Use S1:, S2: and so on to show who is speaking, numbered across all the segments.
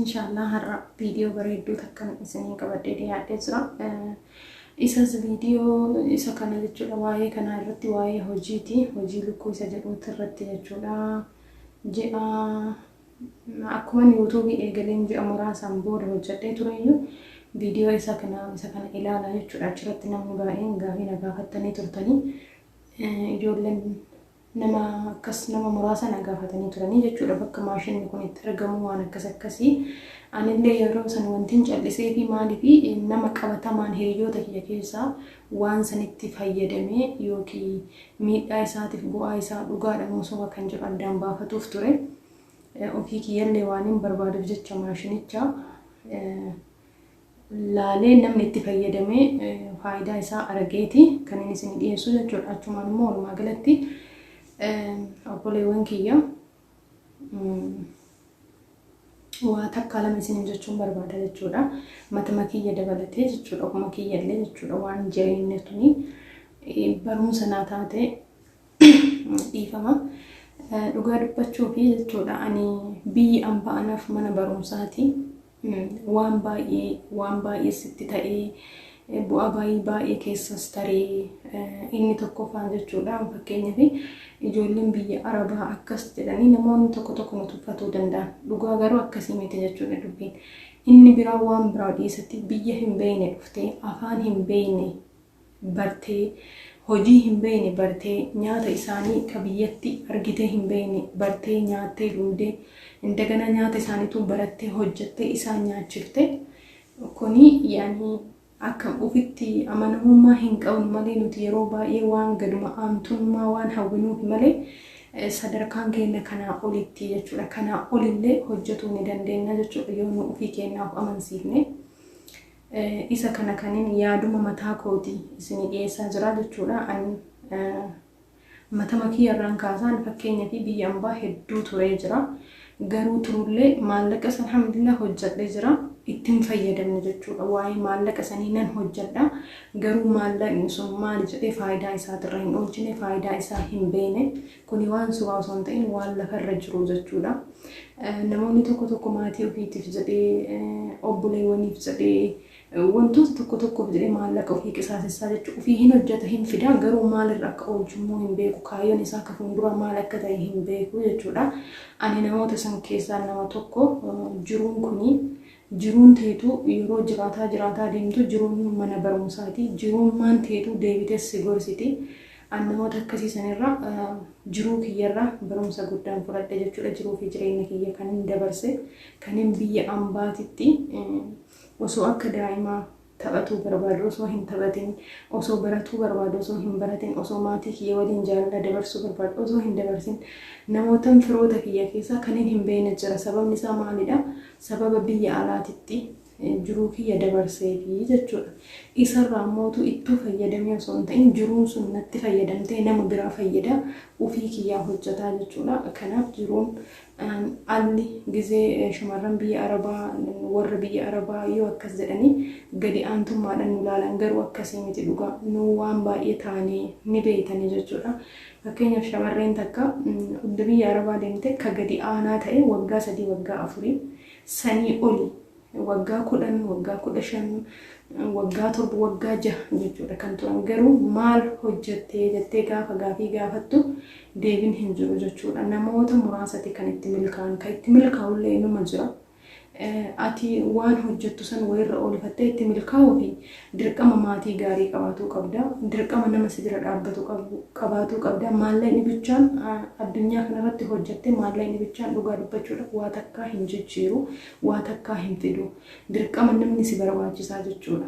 S1: Inshaallah har'a viidiyoo bareedduu takkan isiniin qabadhee dhiyaadhee jira. Isas viidiyoo isa kana jechuudha waa'ee kanaa irratti waa'ee hojiiti. Hojii lukkuu isa jedhuuti irratti jechuudha. Ji'a akkuma yuutuubii eegaleen ji'a muraasaan booda hojjedhee tureyyuu viidiyoo isa kana isa kana ilaala jechuudha. Achirratti namni baay'een gaafii na gaafattanii turtanii ijoolleen nama akkas nama muraasa na gaafatanii turanii jechuudha bakka maashinni kun itti argamu waan akkas akkasii anillee yeroo san wantiin callisee fi maaliif nama qabatamaan hiriyoota kiyya keessaa waan sanitti fayyadamee yookiin miidhaa isaatiif bu'aa isaa dhugaadha moo soba kan jedhu addaan baafatuuf ture ofii kiyyallee waan hin barbaaduuf jecha maashinicha laalee namni itti fayyadamee faayidaa isaa arageeti kan inni isin dhiyeessu jechuudha. Achumaan immoo walumaa galatti obboleewwan kiyya waa takkaa lama isin jechuun barbaada jechuudha. Matama kiyya dabalatee jechuudha. Ofuma kiyya illee jechuudha. Waan jireenya tuni barumsa naa taate dhiifama. Dhugaa dubbachuu fi jechuudha ani biyyi ambaa anaaf mana barumsaati. Waan baay'ee waan baay'ee sitti ta'ee bu'aa baay'ee baay'ee keessas taree inni tokkoffaan jechuudha fakkeenyaaf ijoolleen biyya arabaa akkas jedhanii namoonni tokko tokko nu tuffatuu danda'an dhugaa garuu akkasii miti jechuudha dubbiin inni biraa waan biraa dhiisatti biyya hin beeyne dhuftee afaan hin beeyne bartee, hojii hin beeyne bartee, nyaata isaanii ka biyyatti argitee hin beeyne bartee, nyaattee dhuydee, indagana nyaata isaaniituu barattee, hojjattee isaan nyaachifte. Kuni yaani akka ufitti amanamummaa hin qabnu malee nuti yeroo baay'ee waan gaduma aantummaa waan hawwinuufi malee sadarkaan keenna kanaa olitti jechuudha. Kanaa olillee hojjatuu ni dandeenna jechuudha yoo nu ufii keennaaf amansiifne. Isa kana kanin yaaduma mataa kooti isinii dhiyeessaa jira jechuudha. Ani matama kiyya irraan kaasaa ani fakkeenyafi biyya ambaa hedduu turee jira. Garuu turullee maallaqas alhamdulillah hojjadhe jira. Itti hin fayyadamne jechuudha. Waa'ee maallaqa sanii nan hojjadha. Garuu maallaqni sun maali jedhee faayidaa isaatirra hin oolchine, faayidaa isaa hin beeyne. Kuni waan sobaa osoo hin ta'in waan lafa irra jiru jechuudha. Namoonni tokko tokko maatii ofiitiif jedhee, obboleewwaniif jedhee, wantoota tokko tokkoof jedhee maallaqa ofii qisaasessaa jechuudha. Ofii hin hojjeta hin fidaa garuu maalirra akka oolchu immoo hin beeku. Kaayyoon isaa akka fuulduraa maal akka ta'e hin beeku jechuudha. Ani namoota san keessaa nama tokko jiruun kuni Jiruun teetu yeroo jiraataa jiraataa deemtu jiruun mana barumsaati. Jiruummaan teetu deebitees si gorsiti. An namoota akkasii sanirraa jiruu kiyyarraa barumsa guddaan fudhadhe jechuudha. Jiruu fi jireenya kiyya kanin dabarse kanin biyya ambaatitti osoo akka daa'imaa taphatuu barbaadu osoo hin taphatin, osoo baratuu barbaadu osoo hin baratin, osoo maatii kiyya waliin jaalala dabarsuu barbaadu osoo hin dabarsin, namootan firoota kiyya keessaa kanin hin beekne jira. Sababni isaa maalidha? Sababa biyya alaatitti jiruu kiyya dabarseefi jechuudha. Isarraa immoo utuu ittuu fayyadamee osoo hin ta'in jiruun sun natti fayyadamtee nama biraa fayyada ofii kiyyaa hojjetaa jechuudha. Kanaaf jiruun Alli gizee shamarran biyya Arabaa warra biyya Arabaa yoo akkas jedhani gadi aantummaadhan nu laalan garuu akkasii miti dhugaa nuu waan baay'ee taane ni beeytani jechuudha. Fakkeenyaaf shamarreen takka udda biyya Arabaa deemte ka gadi aanaa ta'e waggaa sadii waggaa afurii sanii oli waggaa 10, waggaa 15, waggaa 7, waggaa 6 jechuudha kan turan garuu maal hojjattee jettee gaafa gaafii gaafattu deebin hin jiru jechuudha namoota muraasati kan itti milkaa'an kan itti milkaa'ullee inuma jira ati waan hojjattu san wayirra oolifattee itti milkaa'uu fi dirqama maatii gaarii qabaatuu qabda dirqama nama si bira dhaabbatu qabaatuu qabda maallaqni bichaan addunyaa kanarratti hojjatte maallaqni bichaan dhugaa dubbachuudhaaf waa takkaa hin jijjiiru waa takkaa hin fidu. Dirqama namni si barbaachisaa jechuudha.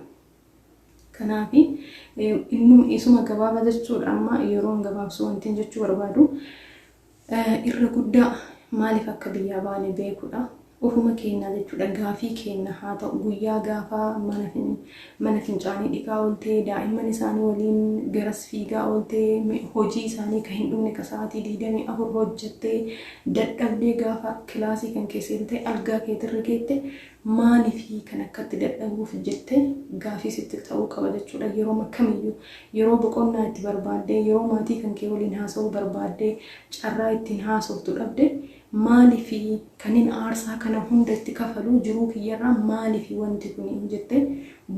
S1: Kanaaf innuma isuma gabaaba jechuudha amma yeroon gabaabsu wantiin jechuu barbaadu irra guddaa maaliif akka biyyaa baane beekudha. Ofuma keenyaa jechuudha gaafii keenya haa ta'u guyyaa gaafa mana Mana fincaanii dhiqaa oolte, daa'imman isaanii waliin garas fiigaa oolte, hojii isaanii ka hin dhumne ka sa'aatii 24 hojjatte, dadhabdee gaafa kilaasii kan kee seentee algaa keeti irra geette maalifi kan akkatti dadhabuuf jette gaafii sitti ta'uu qaba jechuudha. Yerooma kamiyyuu yeroo boqonnaa itti barbaaddee, yeroo maatii kan kee waliin haasa'uu barbaaddee carraa ittiin haasoftu dhabde Maalifi kanin aarsaa kana hunda itti kafalu jiruu kiyyarraa maalifi wanti kuni jettee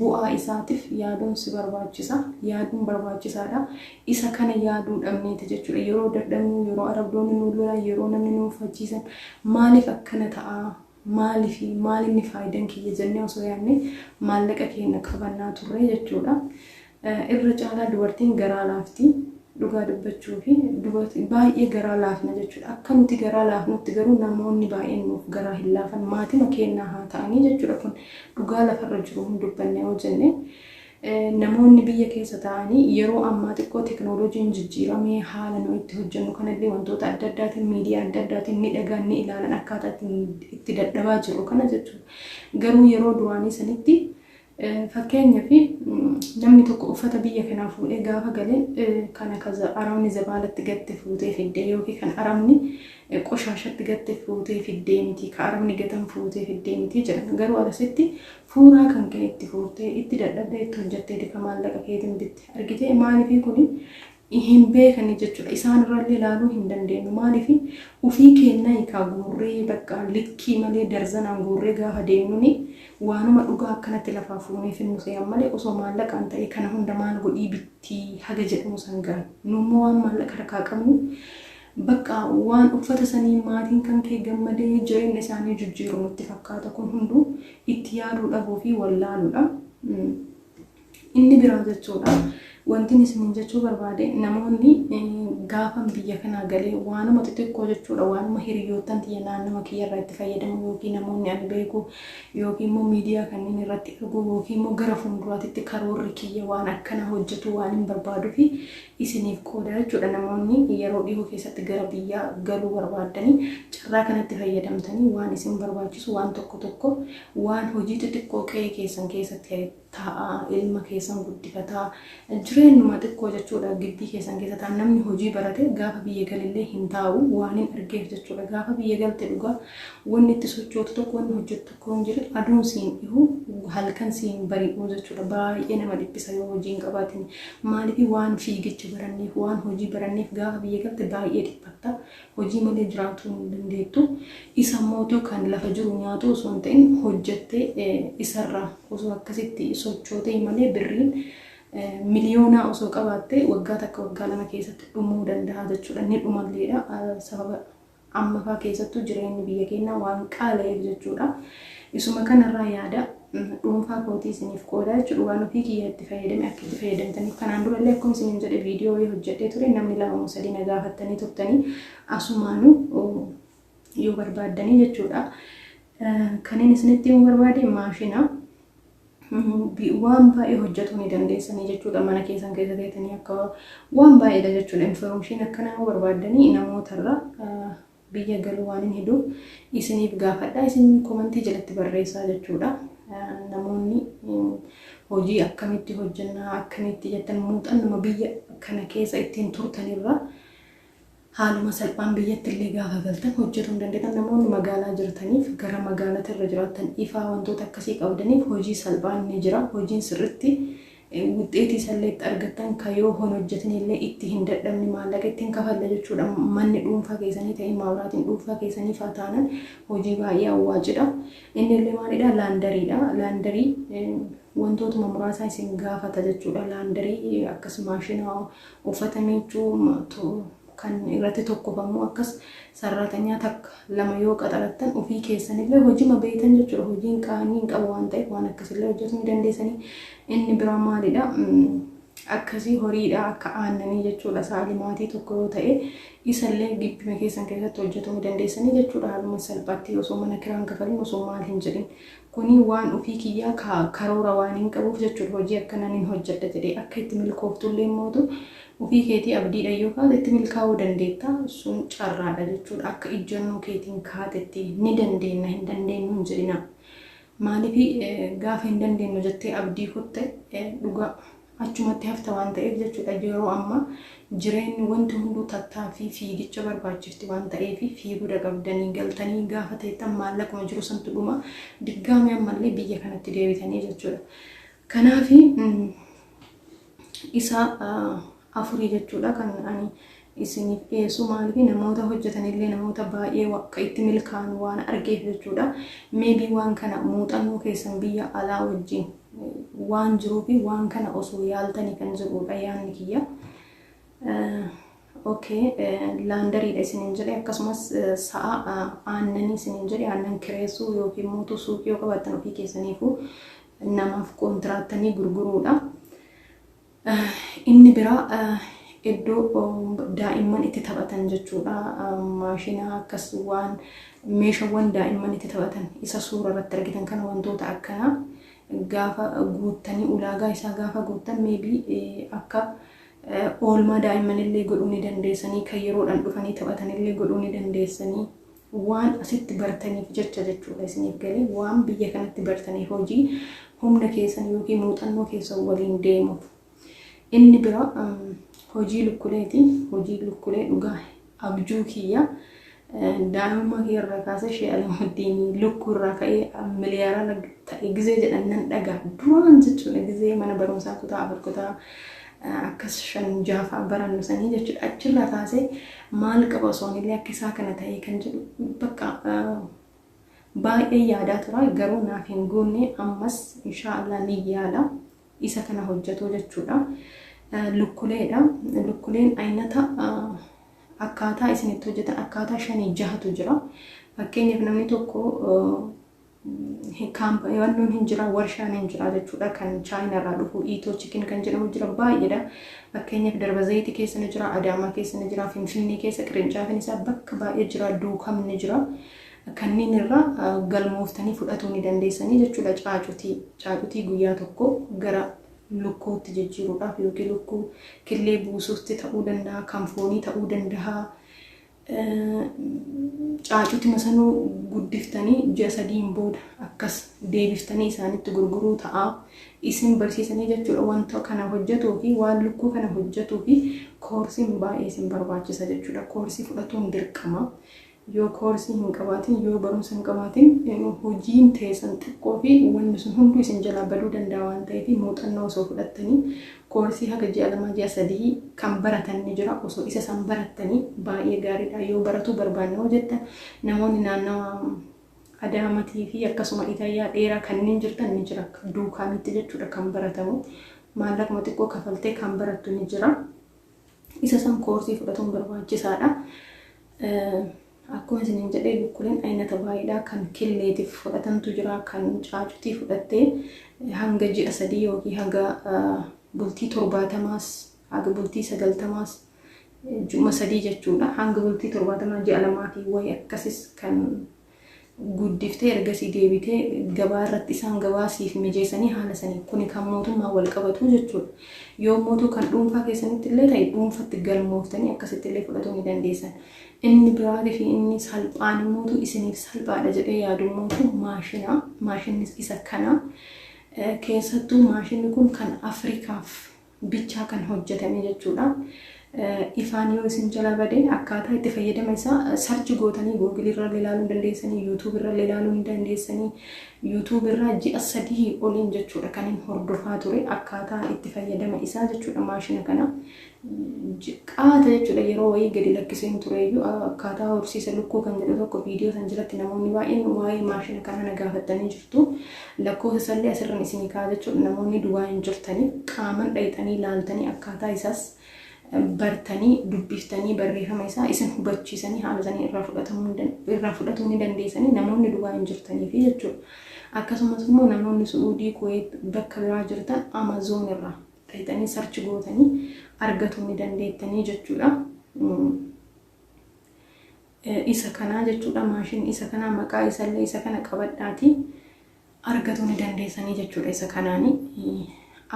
S1: bu'aa isaatif yaaduun si barbaachisa yaaduun barbaachisaadha isa kana yaaduu dhabneeti jechuudha yeroo dadhabnu yeroo arabdoonni nu lolan yeroo namni nu muffachiisan maaliif akkana ta'aa maalifi maal inni faayidan kiyya jennee osoo yaanne maallaqa keenya qabannaa turre jechuudha. Irra caalaa dubartiin garaa laafti dhugaa dubbachuu fi baay'ee garaa laafna jechuudha. Akka nuti garaa laafnutti garuu namoonni baay'een nuuf garaa hin laafan maatima keennaa haa ta'anii jechuudha kun dhugaa lafarra jiru hin dubbanne yoo jenne Namoonni biyya keessa taa'anii yeroo ammaa xiqqoo teknooloojiin jijjiiramee haala nuyi itti hojjennu kanallee wantoota adda addaatiin miidiyaa adda addaatiin ni dhagaan ni ilaalan akkaataa ittiin itti dadhabaa jirru kana jechuudha. Garuu yeroo duraanii sanitti fakkeenyaaf namni tokko uffata biyya kanaa fuudhee gaafa gale kana ka arabni zabaalatti gatte fuutee fiddee yookiin kan arabni qoshaashatti gatte fuutee fiddee miti ka arabni gatan fuutee fiddee miti jedhan. Garuu asitti fuuraa kan ka'e itti fuurtee itti dadhabdee itti hojjattee dika maallaqa keetiin bitte argitee maaliifii kuni hin beekanii jechuudha isaan irrallee ilaaluu hin dandeenyu maaliifii ufii keennaa hikaa guurree bakka likkii malee darzanaan guurree gaafa deemnuni waanuma dhugaa akkanatti lafaa fuunee finnu se'an malee osoo maallaqaan ta'ee kana hunda maal godhii bittii haga jedhamu sangaan nuummoo waan maallaqa harkaa qabnu Baqqa waan uffata saniin maatiin kankee gammadee jireenya isaanii jijjiiru nutti fakkaata kun hunduu itti yaaduu dhabuu fi wallaaluudha. Inni biraa jechuudha wantin isiniin jechuu barbaade namoonni gaafan biyya kanaa galee waanuma xixiqqoo jechuudha waanuma hiriyoottan tiyya naannoo kiyya irraa itti fayyadamu yookiin namoonni ani beeku yookiin immoo miidiyaa kanneen irratti arguu yookiin immoo gara fuulduraatitti karoorri kiyya waan akkana hojjetu waan hin barbaadu fi isiniif qooda jechuudha. Namoonni yeroo dhihoo keessatti gara biyyaa galuu barbaaddanii carraa kanatti fayyadamtanii waan isin barbaachisu waan tokko tokko waan hojii xixiqqoo qe'ee keessan keessatti taa'aa ilma keessan guddifataa jireenyuma xiqqoo jechuudha gibbii keessan keessa taa'an namni hojii barate gaafa biyya galillee hin taa'u waan hin argeef jechuudha gaafa biyya galte dhugaa wanni itti sochootu tokko wanni hojjettu Kun jira aduun si hin dhihu halkan si hin bari'u jechuudha. Baay'ee nama dhiphisa yoo hojii hin qabaatin. Maaliif waan fiigicha baranneef waan hojii baranneef gaafa biyya galte baay'ee dhiphatta. Hojii malee jiraatuu hin dandeettu. Isa mootu kan lafa jiru nyaatu osoo hin ta'in hojjettee isarraa osoo akkasitti sochootee malee birriin miliyoonaa osoo qabaattee waggaa takka waggaa lama keessatti dhumuu danda'a jechuudha. Ni dhumalleedha sababa Amma faa keessattuu jireenyi biyya keennaa waan qaala'eef jechuudha. Isuma kanarraa yaada dhuunfaa kootii isiniif qoodaa jechuudha. Waan ofii kiyyaa itti fayyadame akka itti fayyadamtaniif kanaan durallee akkuma isiniin jedhe viidiyoo wayii hojjedhee ture namni lama moo sadii na gaafattanii turtanii asumaanuu yoo barbaaddanii jechuudha. Kanneen isinitti himuu barbaade maashina. waan baay'ee hojjetuu ni dandeessanii jechuudha mana keessan keessa teetanii akka waan baay'eedha jechuudha infoormeeshiin akkanaa yoo barbaaddanii namootarra biyya galuu waan hin heduuf isiniif gaafadha isin komantii jalatti barreessaa jechuudha namoonni hojii akkamitti hojjennaa akkamitti jettan muuxannuma biyya kana keessa ittiin turtanirra Haaluma salphaan biyyatti illee gaafa galtan hojjetu hin dandeetan namoonni magaalaa jirtaniif gara magaalati irra jiraattan ifaa wantoota akkasii qabdaniif hojii salphaan ni jira hojiin sirritti wixxeetii isallee itti argattan ka yoo hon hojjetni illee itti hin dadhabni maallaqa itti hin kafalle jechuudha manni dhuunfaa keessanii ta'ee maabiraatiin dhuunfaa keessanii faa taanan hojii baay'ee awwaacidha inni illee maalidha laandariidha laandarii wantootuma muraasaa isin gaafata jechuudha laandarii akkas maashina Uffata miiccuu tu kan irratti tokkofamu akkas sarraatanyaa takka lama yoo qaxarattan ofii keessanillee hojima beeytan jechuudha hojiin qaanii hin qabu waan ta'eef waan akkasillee hojjetuu ni dandeessanii inni biraa maalidha akkasii horiidha akka aannanii jechuudha saali maatii tokko yoo ta'e isallee gibbima keessan keessatti hojjetuu ni dandeessanii jechuudha haaluma salphaatti osoo mana kiraan kafalin osoo maal hin jedhin Kuni waan ofii kiyyaa ka karoora waaniin qabuuf jechuudha. Hojii akkanaa nin hojjedha jedhee akka itti milkooftullee mootu ofii keetii abdiidhaan yoo kaate itti milkaa'uu dandeetta. Sun carraadha jechuudha. Akka ijjannoo keetiin kaatetti ni dandeenna hin dandeennu hin jedhinaa. Maaliif gaafa hin dandeennu jettee abdii kutte dhugaa achumatti hafta waan ta'eef jechuudha yeroo ammaa jireenyi wanti hunduu tattaaffii fiigicha barbaachifti waan ta'eef fiiguudha qabdanii galtanii gaafa teettan maallaquma jiru santu dhuma diggaamee ammallee biyya kanatti deebitanii jechuudha. Kanaaf isaa afurii jechuudha kan ani isiniif dhiyeessu maaliif namoota hojjetanillee namoota baay'ee waqqa itti milkaa'an waan argeef jechuudha. Maybe waan kana muuxannoo keessan biyya alaa wajjin waan jiruuf waan kana osoo yaaltanii kan jedhuudha yaanni kiyya. Okay, laandariidha isiniin jedhe akkasumas sa'a aannanii isiniin jedhe aannan kireessuu yookiin mootuu suuqii yoo qabaattan ofii keessaniifuu namaaf kontiraatanii gurguruudha. Inni biraa iddoo daa'imman itti taphatan jechuudha. Maashina akkas waan meeshawwan daa'imman itti taphatan isa suura irratti argitan kana wantoota akkanaa gaafa guuttanii ulaagaa isaa gaafa guuttan meebii akka oolmaa daa'immanillee godhuu ni dandeessanii kan yeroodhaan dhufanii taphatanillee godhuu ni dandeessanii waan asitti bartaniif jecha jechuudha isiniif galee waan biyya kanatti bartanii hojii humna keessan yookiin muuxannoo keessan waliin deemuuf inni bira hojii lukkuleeti hojii lukkulee dhugaa abjuu kiyya daa'imummaa kiyya irraa kaasee shee alamuddin lukkuu irraa ka'ee miliyaara ta'e gizee jedhan nan dhagaa duraan jechuudha gizee mana barumsaa kutaa afur kutaa akkas shan jaha fa'a barannu sanii jechuudha. Achirraa kaasee maal qaba osoo anillee akka isaa kana ta'ee kan jedhu bakka baay'ee yaadaa tura garuu naaf hin guunne ammas inshaallah ni yaala isa kana hojjetu jechuudha. Lukkuleedha. Lukkuleen aynata akkaataa isin itti hojjetan akkaataa shanii jahatu jira. Fakkeenyaaf namni tokko Kaamp wannoon hin jira warshaan hin jira jechuudha kan chaayina irraa dhufu iitoo chikin kan jedhamu jira baay'eedha fakkeenyaaf darba zayitii keessa ni jira adaamaa keessa ni jira finfinnee keessa qirincaafiin isaa bakka baay'ee jira duukam ni jira kanneen irraa galmooftanii fudhatuu ni dandeessanii jechuudha caacutii caacutii guyyaa tokko gara lukkuutti jijjiiruudhaaf yookiin lukkuu killee buusuutti ta'uu danda'a kan foonii ta'uu danda'a caacuuti masanuu guddiftanii ji'a sadiin booda akkas deebiftanii isaanitti gurguruu ta'a. Isin barsiisanii jechuudha wanta kana hojjetuu fi waan lukkuu kana hojjetuu fi koorsiin baay'ee isin barbaachisa jechuudha. Koorsii fudhatuun dirqama. Yoo koorsii hin qabaatin, yoo barumsa hin qabaatin hojiin teessan xiqqoo fi wanni sun hunduu isin jalaa baduu danda'a waan ta'eef muuxannoo osoo fudhattanii Koorsii haga ji'a lamaa ji'a sadihii kan baratan ni jira. Osoo isa san barattanii baay'ee gaariidha. Yoo baratuu barbaanne hoo jettan namoonni naannawa Adaamatii fi akkasuma Itayyaa dheeraa kanneen jirtan ni jira. Duukaamitti jechuudha kan baratamu. Maallaquma xiqqoo kafaltee kan barattu ni jira. Isa san koorsii fudhatuun barbaachisaadha. Akkuma isiniin jedhe bukkuleen aynata baay'eedha. Kan killeetiif fudhatantu jira, kan caacutii fudhattee hanga ji'a sadii yookiin haga bultii torbaatamaas, haga bultii sagaltamaas, ji'uma sadii jechuudha. Hanga bultii torbaatamaa ji'a lamaatii wayi akkasis kan guddiftee ergasii deebitee gabaa irratti isaan gabaa siif mijeessanii haala saniin kuni kan mootummaan wal qabatuu jechuudha. Yoommuutuu kan dhuunfaa keessanitti illee ta'e dhuunfatti galmooftanii akkasitti illee fudhatuu ni dandeessan. Inni biraatii fi inni salphaan immootu isiniif salphaadha jedhee yaadu immootu maashina. Maashinnis isa kana. Keessattuu maashinni kun kan Afrikaaf bichaa kan hojjetame jechuudha. Ifaan yoo isin jalaa bade akkaataa itti fayyadama isaa sarchi gootanii Google irra ilaaluu hin dandeessanii, YouTube irra ilaaluu hin dandeessanii, YouTube irra ji'a sadii oliin jechuudha kan hin hordofaa ture akkaataa itti fayyadama isaa jechuudha maashina kana. Qaata jechuudha yeroo wayii gadi lakkiseen ture iyyuu akkaataa horsiisa lukkuu kan jedhu tokko viidiyoo san jalatti namoonni baay'een waa'ee maashina kanaa na gaafattanii jiru. jirtu. Lakkoofsa isallee asirran isinii kaa'a jechuudha. Namoonni duwaa hin jirtaniif qaaman dhayxanii laaltanii akkaataa isaas bartanii dubbiftanii barreeffama isaa isin hubachiisanii haala isanii irraa fudhatamuu ni dan- irraa fudhatuu ni dandeessanii namoonni duwaa hin jirtaniifi jechuudha. Akkasumas immoo namoonni Su'uudii, Kuweet bakka biraa jirtan Amazoon irraa dhayxanii sarchi gootanii argatuu ni dandeettanii jechuudha. Mm. isa kanaa jechuudha maashinni isa kanaa maqaa isallee isa kana qabadhaatii argatuu ni dandeessanii jechuudha isa kanaani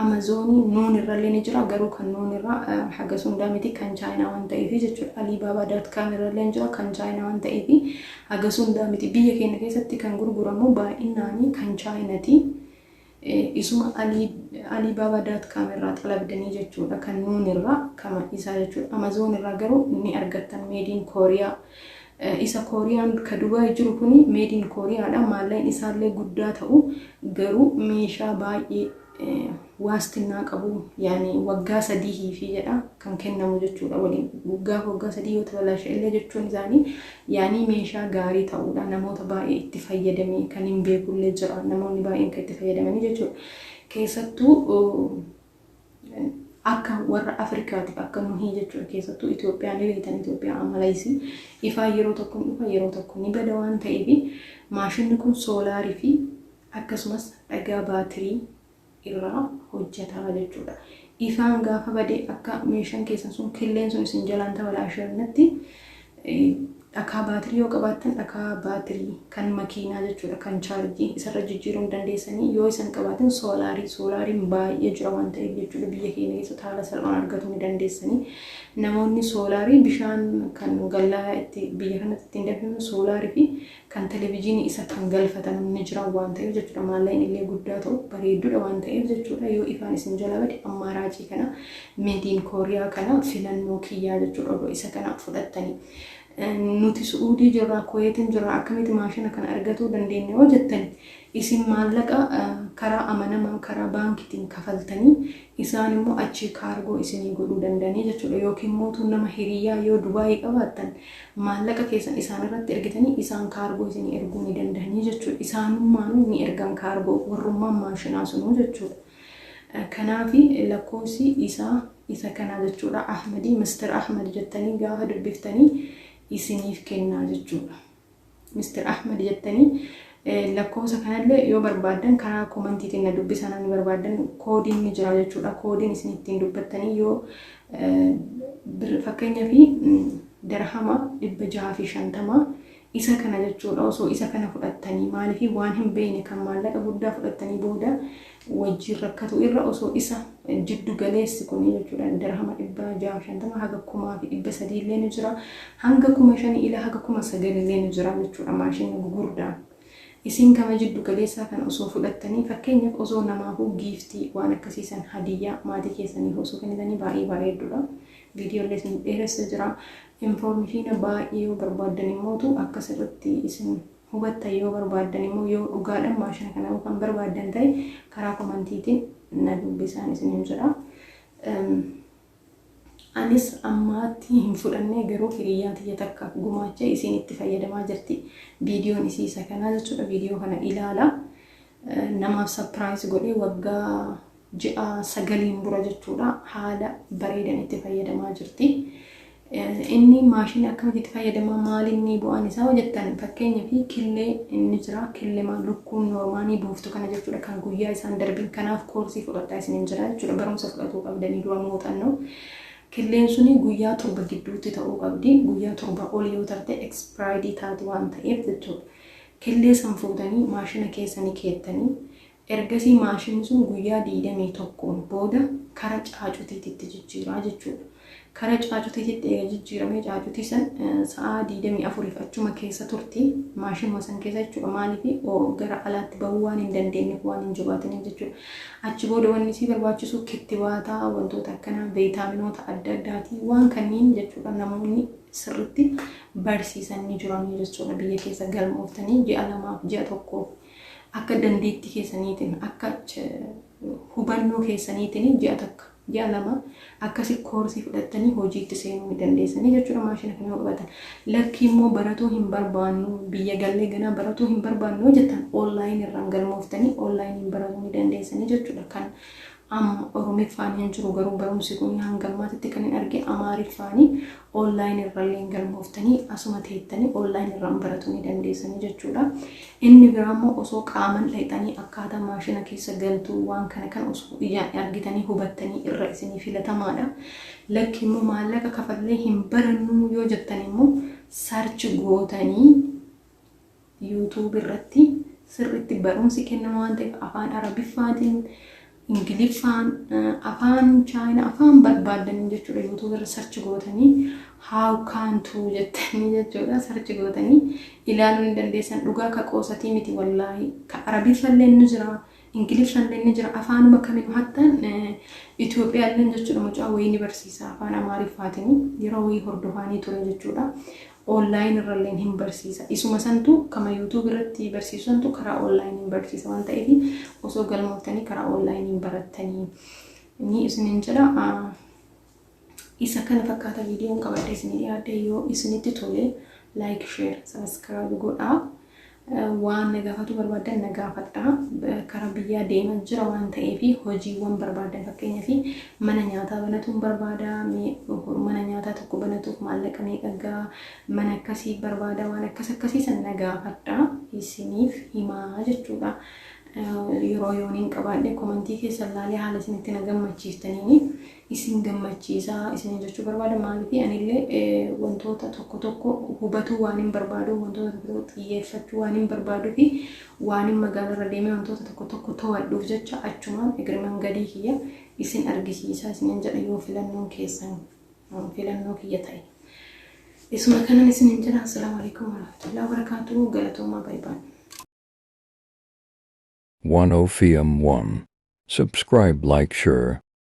S1: amazoonii nuun irrallee ni jira garuu kan nuun irraa haga sundaa miti kan chaayinaa waan ta'eef jechuudha aliibaabaa daat kaam irrallee ni jira kan chaayinaa waan ta'eef haga sundaa miti biyya keenya keessatti kan gurguramu baay'inaanii kan chaayinatii Isuma Ali Alibaba dot com irraa xalabdanii jechuudha kan nuun irraa kama isaa jechuudha Amazon irraa garuu ni argattan made in Korea isa Korean ka Dubai jiru kuni made in Korea dha maalleen isaallee guddaa ta'u garuu meeshaa baay'ee waastinnaa qabu yaani waggaa sadii hiifii jedha kan kennamu jechuudha waliin gaafa waggaa sadii yoo tabalaa illee jechuun isaanii Yaanii meeshaa gaarii ta'uudha namoota baay'ee itti fayyadamee kan hin beekullee jira namoonni baay'een kan itti fayyadamanii jechuudha keessattuu akka warra Afrikaatiif akka nuhii jechuudha keessattuu Itoophiyaan beektan Itoophiyaa amalaisi ifaa yeroo tokko dhufa yeroo tokko ni bada waan ta'eef maashinni kun soolaarii fi akkasumas dhagaa baatirii irraa hojjatama jechuudha. Ifaan gaafa bade akka meeshaan keessan sun killeen sun isin jalaan tabalaasheernetti dhakaa baatirii yoo qabaattan dhakaa baatirii kan makiinaa jechuudha kan chaarjii isarra jijjiiruu hin dandeessanii yoo isan qabaatin soolaarii soolaariin baay'ee jira waan ta'eef jechuudha biyya keenya keessatti haala salphaan argatuu ni dandeessanii namoonni soolaarii bishaan kan gallaa itti biyya kanatti ittiin danfifnu soolaarii fi kan televijiinii isa kan galfatan ni jiran waan ta'eef jechuudha maallaqni illee guddaa ta'u bareedduudha waan ta'eef jechuudha yoo ifaan isin jala bade ammaa raacii kana meediin kooriyaa kana filannoo kiyyaa jechuudha odoo isa kana fudhattanii nuti su'uudii jirraa kuweetiin jirraa akkamitti maashina kana argatuu dandeenya yoo jettani isin maallaqa karaa amanamaan karaa baankitiin kafaltanii Isaan immoo achii kaargoo isinii godhuu danda'anii jechuudha. Yookiin mootuu nama hiriyaa yoo Dubaayii qabaattan maallaqa keessan isaan irratti ergitanii isaan kaargoo isinii erguu ni danda'anii jechuudha. Isaanummaanuu ni ergan kaargoo warrummaan maashinaa sunuu jechuudha. Kanaafi lakkoofsi isaa isa kanaa jechuudha. Ahmadii Mister Ahmad jettanii gaafa dubbiftanii isiniif kennaa jechuudha. Mr Ahmed jettanii lakkoofsa kanallee yoo barbaaddan karaa komantiitiin na dubbisaa namni barbaaddan koodiin ni jira jechuudha. Koodiin isin ittiin dubbattanii yoo fakkeenya fi darhama dhibba jaha fi shantama isa kana jechuudha osoo isa kana fudhattanii maaliif waan hin beekne kan maallaqa guddaa fudhattanii booda wajjiin rakkatu irra osoo isa jiddu galeessi kuni jechuudha dirhama 650 haga 1300 illee ni jira hanga 5000 ila haga 9000 illee ni jira jechuudha maashinni gugurdaa isiin kama jiddu galeessaa kan osoo fudhattanii fakkeenyaaf osoo namaafuu giiftii waan akkasiisan hadiyyaa maatii keessaniif osoo kennitanii baay'ee bareedduudha viidiyoo illee isin dheeressa jira infoormishiina baay'ee yoo barbaaddan immootu akka sirritti isin hubattan yoo barbaaddan immoo yoo dhugaadhan maashina kana kan barbaaddan ta'e karaa komantiitiin na dubbisaan isiniin jedha. Anis ammaatti hin fudhannee garuu hiriyyaan tiyya takka gumaacha isiin itti fayyadamaa jirti. Viidiyoon isii isa kanaa jechuudha. Viidiyoo kana ilaala. Namaaf sapiraayis godhee waggaa ji'a sagaliin dura jechuudha haala bareedan itti fayyadamaa jirti. Inni maashinii akkamitti itti fayyadama maalinni bu'aan isaa hojjettan fakkeenya fi killee inni jira killema lukkuun noormaanii buuftu kana jechuudha kan guyyaa isaan darbin kanaaf koorsii fudhadhaa isinin jira jechuudha barumsa fudhatuu qabdanii dura muuxannoo. Killeen suni guyyaa torba gidduutti ta'uu qabdi guyyaa torba ol yoo tarte ekspiraayidii taati waan ta'eef jechuudha. Killee san fuutanii maashina keessanii keettanii Ergasii maashinni sun guyyaa 21n booda kara caacutiititti jijjiira jechuudha. Kara caacutiititti eega jijjiiramee caacutii san sa'aa 24f achuma keessa turti, maashinuma san keessa jechuudha. Maaliif gara alaatti bahuu waan hin dandeenyeef, waan hin jabaatiniif jechuudha. Achi booda wanni isii barbaachisu kittibaata, wantoota akkanaa, veetaaminoota adda addaati. Waan kanniin jechuudha namoonni sirritti barsiisan ni jiranii jechuudha biyya keessa galmooftanii ji'a lamaaf, ji'a tokkoof Akka dandeettii keessaniitiin, akka hubannoo keessaniitiin ji'a takka, ji'a lama akkasi koorsii fudhattanii hojiitti seenuu ni dandeessanii jechuudha maashina kana yoo qabatan. Lakkii immoo baratuu hin barbaannu, biyya gallee ganaa baratuu hin barbaannu yoo jettan online irraan galmooftanii online baratuu ni dandeessanii jechuudha. Kan Amma Oromiffaan hin jiru garuu barumsi kun hanga ammaatitti kan hin arge Amaariffaani online irralleen galmooftanii asuma teettanii online irraan baratu ni dandeessanii jechuudha. Inni biraa immoo osoo qaaman dhayxanii akkaataa maashina keessa galtuu waan kana kan osoo iyyaan argitanii hubattanii irra isinii filatamaadha. Lakki immoo maallaqa kafallee hin barannuu yoo jettan immoo search gootanii YouTube irratti sirriitti barumsi kennama waan ta'eef afaan Arabiffaatiin, Ingiliffaan, afaan Chaayina, afaan barbaaddan jechuudha. YouTube irra sarchi gootanii how can to jettanii jechuudha sarchi gootanii ilaaluu ni dandeessan. Dhugaa ka qoosatii miti wallaahi. Ka Arabiffallee ni jira, Ingiliffallee ni jira, afaanuma kamiin hattan Itoophiyaallee jechuudha mucaa wayii ni barsiisa afaan Amaariffaatiin yeroo wayii hordofaanii ture jechuudha. online irralleen hin barsiisa. Isuma santu kama YouTube irratti barsiisu santu karaa online hin barsiisa waan ta'eef osoo galmooftanii karaa online hin barattanii ni isinin jedha. Isa kana fakkaata viidiyoon qabadhe isinii dhiyaadhe yoo isinitti tole like share subscribe godhaa. Waan na gaafatuu barbaaddan na gaafadhaa. Kara biyyaa deeman jira waan ta'eef hojiiwwan barbaaddan fakkeenyaaf mana nyaataa banatuun barbaada mana nyaataa tokko banatuuf maallaqa meeqa gaa mana akkasii barbaada waan akkas akkasii san na gaafadhaa isiniif himaa jechuudha. Yeroo yooniin qabaadhe komantii keessa ilaalee haala isinitti na gammachiiftaniini. isin gammachiisa isiniin jechuu barbaada. Maaliif anillee wantoota tokko tokko hubatuu waan hin barbaadu, wantoota tokko tokko xiyyeeffachuu waan hin barbaaduu fi waan hin magaalarra deemee wantoota tokko tokko to'adhuuf jecha achumaan egriman gadii kiyya isin argisiisaa isiniin jedha yoo filannoon keessan filannoo kiyya ta'e. Isuma kanan isiniin jedha. Assalaamu alaikum warahmatullahi wabarakatuh. Galatoomaa baay'ee. 10
S2: fm 1 subscribe like share